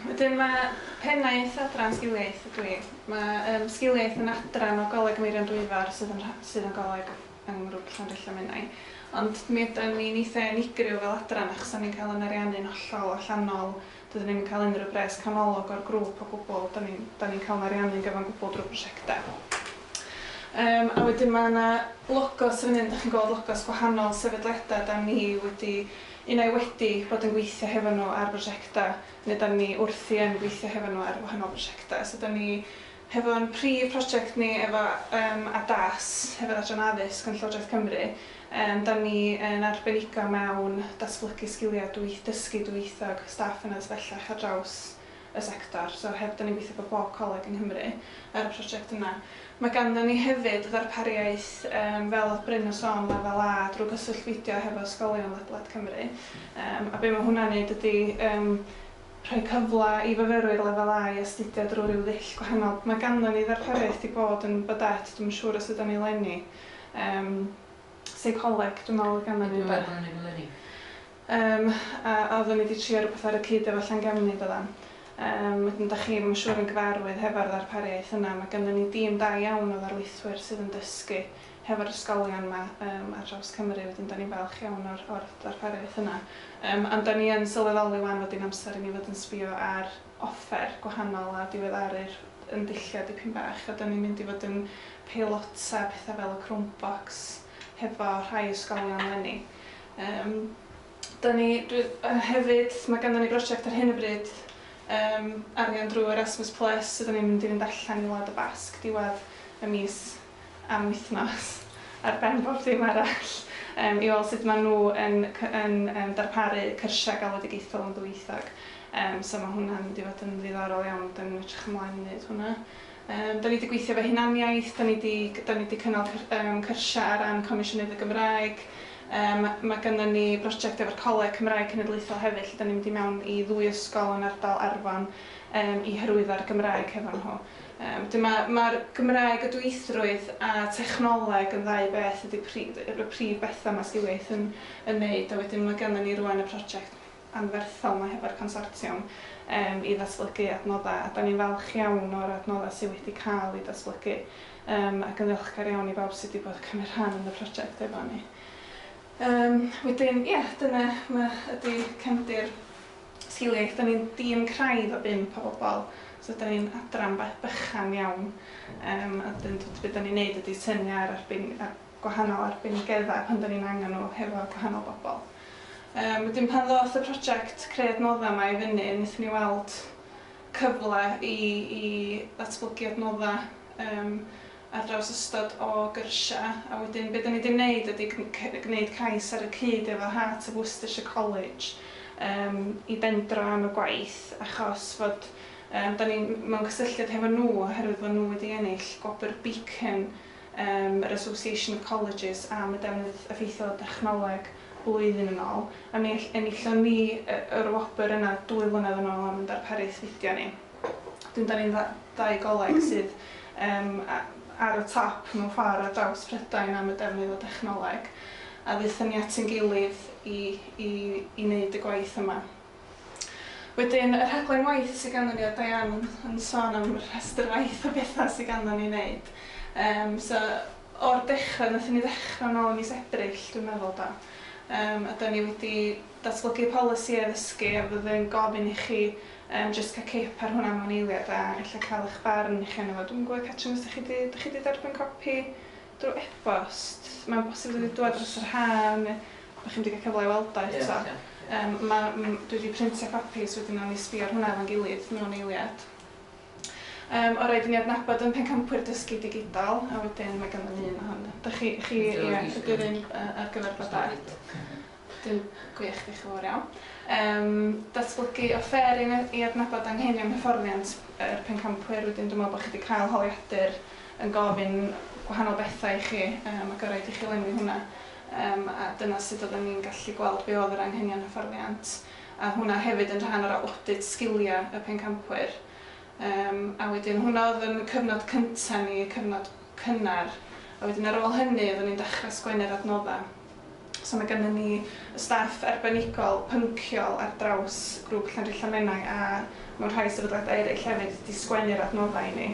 Wedyn mae pennaeth adran sgiliaeth ydw i. Mae um, sgiliaeth yn adran o Goleg Meirion Dwyfor sydd yn, sydd yn goleg yng Ngrŵp Llanrilla Menai. Ond mi ydy'n ni'n eitha unigryw fel adran achos da ni'n cael yn ariannu'n hollol allanol Dydyn ni'm yn cael unrhyw bres canolog o'r grŵp o gwbl, 'dan ni'n 'dan ni'n cael 'n ariannu'n gyfan gwbl drwy brosiectau. Yym a wedyn ma' 'na logos yn fan hyn, 'dach chi'n gweld logos gwahanol sefydliadau 'dan ni wedi, unai wedi, bod yn gweithio hefo nhw ar brosiectau, neu 'dan ni wrthi yn gweithio hefo nhw ar wahanol brosiectau. So 'dan ni Hefo'n prif prosiect ni efo yym a das hefo'r Adran Addysg yn Llywodraeth Cymru yym 'dan ni yn arbenigo mewn datblygu sgiliau dwyth- dysgu dwyieithog staff yn addysg bellach ar draws y sector so hef- 'dan ni'n gweithio efo bob coleg yng Nghymru ar y prosiect yna. Mae ganddon ni hefyd ddarpariaeth yym fel o'dd Bryn yn sôn Lefel A drw gysylltweidio hefo ysgolion ledled Cymru yym a be' ma' hwnna'n neud ydi yym Rhoi cyfle i fyfyrwyr Lefel A i astudio drwy ryw ddull gwahanol. Mae ganddon ni ddarpariaeth 'di bod yn Bodette, dwi'm yn siŵr os ydan ni 'leni. Yym seicoleg dwi'n meddwl oedd ganddon ni ynde? Dwi'n meddwl bod ni ddim eleni. Yym a oeddwn i 'di trio rywbeth ar y cyd efo Llangefni doeddan. Yym wedyn dach chi mae'n siŵr yn gyfarwydd hefo'r ddarpariaeth yna. Mae ganddon ni dîm da iawn o ddarlithwyr sydd yn dysgu hefo'r ysgolion 'ma yym ar draws Cymru wedyn 'dan ni'n falch iawn o'r o'r ddarpariaeth yna yym ond 'dan ni yn sylweddoli 'wan fod 'i'n amser i ni fod yn sbio ar offer gwahanol a diweddaru'r yn dullia' dipyn bach a 'dan ni'n mynd i fod yn peilota petha' fel y Chromebox hefo rhai ysgolion 'leni yym 'dan ni dwi yy hefyd ma' ganddon ni brosiect ar hyn o bryd yym arian drw Erasmus Plus sydd yn mynd i fynd allan i Wlad y Basg diwadd y mis am wythnos ar ben bob dim arall i weld sut maen nhw yn yn yym darparu cyrsiau galwedigaethol yn ddwyieithog. Yym so mae hwnna'n mynd i fod yn ddiddorol iawn, dan ni'n edrych ymlaen i wneud hwnna. Yym dan ni wedi gweithio efo hunaniaeth, dan ni wedi dan ni wedi cynnal cyr- yym cyrsiau ar ran Comisiynydd y Gymraeg, yym mae gynnon ni brosiect efo'r Coleg Cymraeg Cenedlaethol hefyd lle dan ni'n mynd i mewn i ddwy ysgol yn ardal Arfon yym i hyrwyddo'r Gymraeg hefo nhw. Wedyn ma' ma'r Gymraeg, y dwyieithrwydd a technoleg yn ddau beth ydi pri- y prif betha ma' Stiwieith yn yn neud a wedyn ma' gennon ni rŵan y project anferthol ma' hefo'r consortiwm yym i ddatblygu adnodda a 'dan ni'n falch iawn o'r adnodda sy wedi ca'l 'u datblygu yym ac yn ddiolchgar iawn i bawb sy 'di bod cymryd rhan yn y project efo ni. Yym wedyn ia dyna ma' ydi cefndir Sgiliaeth, dan ni'n dîm craidd o bump o bobl, so dan ni'n adran bach bychan iawn, yym a wedyn dw- be dan ni'n neud ydi tynnu ar arben- ar gwahanol arbenigeddau pan dan ni'n angen nhw hefo gwahanol bobl. Yym wedyn pan ddoth y project creu adnoddau ma i fyny wnaethon ni weld cyfle i i ddatblygu adnoddau yym ar draws ystod o gyrsiau, a wedyn be dan ni 'di wneud ydy gwneud cais ar y cyd efo Heart of Worcestershire College yym i benndro am y gwaith achos fod yym dan ni mewn cysylltiad hefo nhw oherwydd fod nhw wedi ennill gwobr Beacon yym yr Association of Colleges am y defnydd effeithiol o dechnoleg blwyddyn yn ôl, a mi enillon ni y yr wobr yna dwy flynedd yn ôl am ein darparu ffitio ni. Wedyn 'dan ni'n dda- ddau goleg sydd yym a- ar y top mewn ffor ar draws Prydain am y defnydd o dechnoleg, a ddaethon ni at ein gilydd i i i neud y gwaith yma. Wedyn y rhaglen waith sy ganddon ni, o'dd Diane yn sôn am rhestr waith o betha sy ganddon ni neud, yym so o'r dechre nathon ni ddechra nôl yn mis Ebrill dwi'n meddwl do? Yym a 'dan ni wedi datblygu polisi addysgu a fyddwn gofyn i chi yym jyst ca cip ar hwnna mewn eiliad a ella cael eich barn i chi arno fo. Dwi'm yn gwybod Catrin os dych chi di dych chi di derbyn copi drwy ebost? Mae'n bosib fydd wedi dwad dros yr ha ne bo chi'm di cael cyfle i weld o eto. Yym ma' m- dwi di printio copi so wedyn nawn ni sbio ar hwnna efo'n gilydd mewn eiliad. Yym o raid i ni adnabod yn pencampwyr dysgu digidol a wedyn ma' ganddo ni un o hwn. Dych chi chi ie ydy'r un yy ar gyfer bod at? Dim, gwych, diolch yn fawr iawn. Yym, datblygu offeryn i adnabod anghenion hyfforddiant yr pencampwyr, wedyn dwi'n meddwl bod chi wedi cael holiadur yn gofyn gwahanol bethau i chi, yym, ac oedd rhaid i chi lenwi hwnna. Yym, a dyna sut oedden ni'n gallu gweld be oedd yr anghenion hyfforddiant, a hwnna hefyd yn rhan o'r audit sgiliau y pencampwyr. Yym, a wedyn hwnna oedd yn cyfnod cyntaf ni, cyfnod cynnar, a wedyn ar ôl hynny oedden ni'n dechrau sgwennu'r adnoddau. So mae gennym ni staff arbenigol pynciol ar draws Grŵp Llanrug Llamennau a mewn rhai sefydliadau eraill hefyd 'di sgwennu'r adnoddau i ni.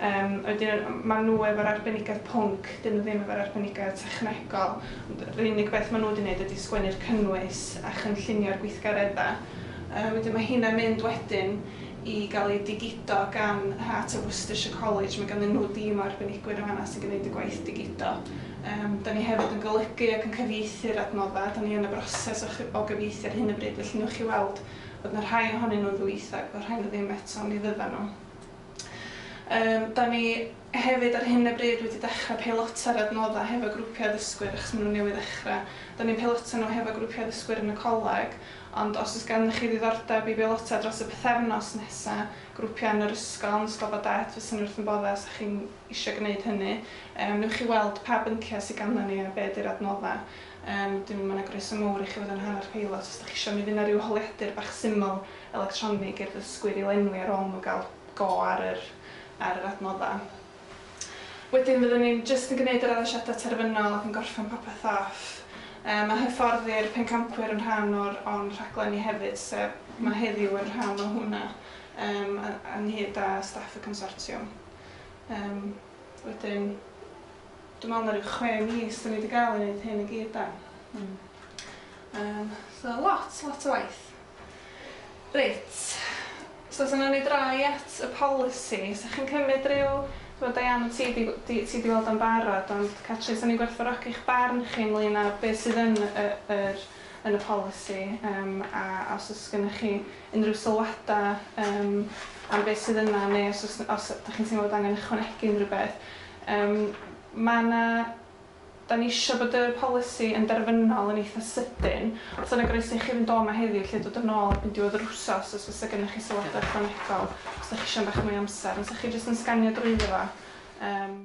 Yym a wedyn maen nhw efo'r arbenigedd pwnc, 'dyn nhw ddim efo'r arbenigedd technegol. Ond yr unig beth maen nhw 'di wneud ydi sgwennu'r cynnwys a chynllunio'r gweithgareddau. Yy wedyn mae heina'n mynd wedyn i gael eu digido gan Heart of Worcestershire College. Mae ganddyn nhw dîm o arbenigwyr yn fan'na sy'n gwneud y gwaith digido. Yym, da ni hefyd yn golygu ac yn cyfieithu'r adnoddau. Da ni yn y broses o chy- o gyfieithu ar hyn o bryd, felly newch chi weld bod 'na rhai ohonyn nhw'n ddwyieithog, bod rhai nhw ddim eto, mi fyddan nhw. Yym, da ni Hefyd, ar hyn o bryd wedi dechrau peilota'r adnoddau hefo grwpiau dysgwyr achos maen nhw newydd ddechrau. Dan ni'n peilota nhw hefo grwpiau dysgwyr yn y coleg, ond os oes ganddoch chi ddiddordeb i beilota dros y pythefnos nesaf grwpiau yn yr ysgol, yn Ysgol Bodett, fysen ni wrth ein boddau os 'sa chi'n eisiau gwneud hynny. Yym, newch chi weld pa bynciau sydd ganddon ni a be ydy'r adnoddau. Yym, wedyn mae 'na groeso mawr i chi fod yn rhan o'r peilot os dach chi isio. Mi fydd 'na ryw holiadur bach syml electronig i'r dysgwyr i lenwi ar ôl nhw gael go ar yr ar yr adnoddau. Wedyn fyddwn ni'n jyst yn gwneud yr addasiadau terfynol ac yn gorffen popeth off. Yy mae hyfforddi'r pencampwyr yn rhan o'r o'n rhaglen ni hefyd so mae heddiw yn rhan o hwnna yym a- ynghyd â staff y consortiwm. Yym wedyn dwi'n meddwl mae rhyw chwe mis 'da ni 'di gael i wneud hyn i gyd do? Mm. Yym so lot, lot o waith. Reit, so os ynawn ni droi at y polisi, 'sa chi'n cymryd rhyw, t'mod Diane wt ti 'di w- 'di ti 'di weld o'n barod ond Catrin 'sa ni'n gwerthfawrogi'ch barn chi ynglŷn â be' sydd yn y yr yn y polisi yym a a os o's gynnoch chi unrhyw sylwada' yym am be' sydd yna neu os o's os 'dach chi'n teimlo bod angen ychwanegu unrhyw beth. Yym ma' 'na Da ni isio bod y polisi yn derfynol yn eitha sydyn. Os yna groeso i chi fynd o 'ma heddiw, ella dod yn ôl erbyn diwedd yr wsos os fysa gynnoch chi sylwadau ychwanegol, os dach chi isio am bach mwy o amser, ond 'sa chi jyst yn sganio drwyddo fo, yym.